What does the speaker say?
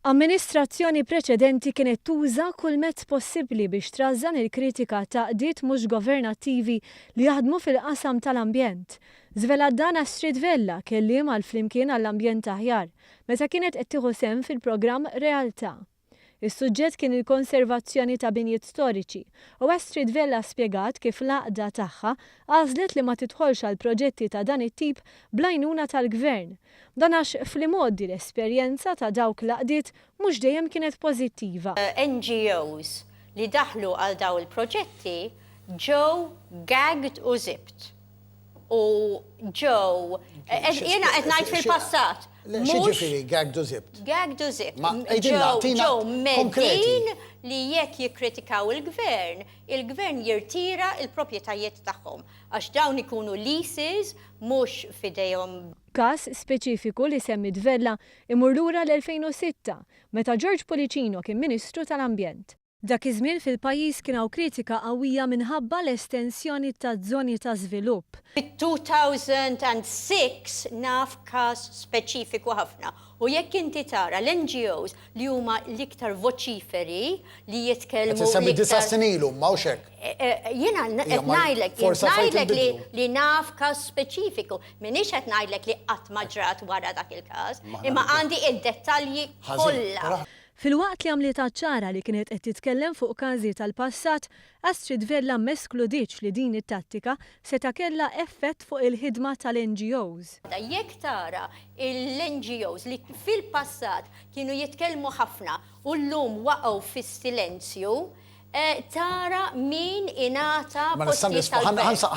Amministrazzjoni preċedenti kienet tuża kull mezz possibbli biex trażżan il-kritika ta' qdiet mhux governattivi li jaħdmu fil-qasam tal-ambjent. Żvelat dan Astrid Vella, kelliem għal Flimkien għall-Ambjent Aħjar, meta kienet qed tieħu sehem fil-programm Realtà. Is-suġġett kien il-konservazzjoni ta' binjiet storiċi u Astrid Vella spjegat kif l-għaqda tagħha għażlet li ma tidħolx għal proġetti ta' dan it-tip bl-għajnuna tal-Gvern. Dan għax fl-imgħoddi l-esperjenza ta' dawk l-għaqdiet mhux dejjem kienet pożittiva. NGOs li daħlu għal dawn il-proġetti ġew gagged u zipped. u ġew. Jiena qed ngħid fil-passat. Ġifieri gag du zibt. Gag du zibt. Ġew meddin li jekk jikkritikaw il-gvern, il-gvern jirtira il-proprjetajiet tagħhom għax dawn ikunu leases mhux f'idejhom. Każ speċifiku li semmiet Vella jmur lura l-2006, meta George Pullicino kien Ministru tal-Ambjent. Dak iż-żmien fil-pajjiż kien hawn kritika qawwija minħabba l-estensjoni taz-zoni ta' żvilupp. Fit-2006 naf każ speċifiku ħafna u jekk inti tara l-NGOs li huma l-iktar voċiferi li jitkellmu l-iktar. Qed issemmi disa' snin ilu, mhux hekk? Jiena qed ngħidlek, ngħidlek li naf każ speċifiku, m'iniex qed ngħidlek li qatt ma ġrat wara dak il-każ, imma għandi d-dettalji kollha. Filwaqt li għamlitha ċara li kienet qed titkellem fuq każi tal-passat, Astrid Vella m'eskludietx li din it-tattika seta' kellha effett fuq il-ħidma tal-NGOs. Jekk tara l-NGOs li fil-passat kienu jitkellmu ħafna u llum waqgħu fis-silenzju, tara min ingħata postijiet tal-gvern.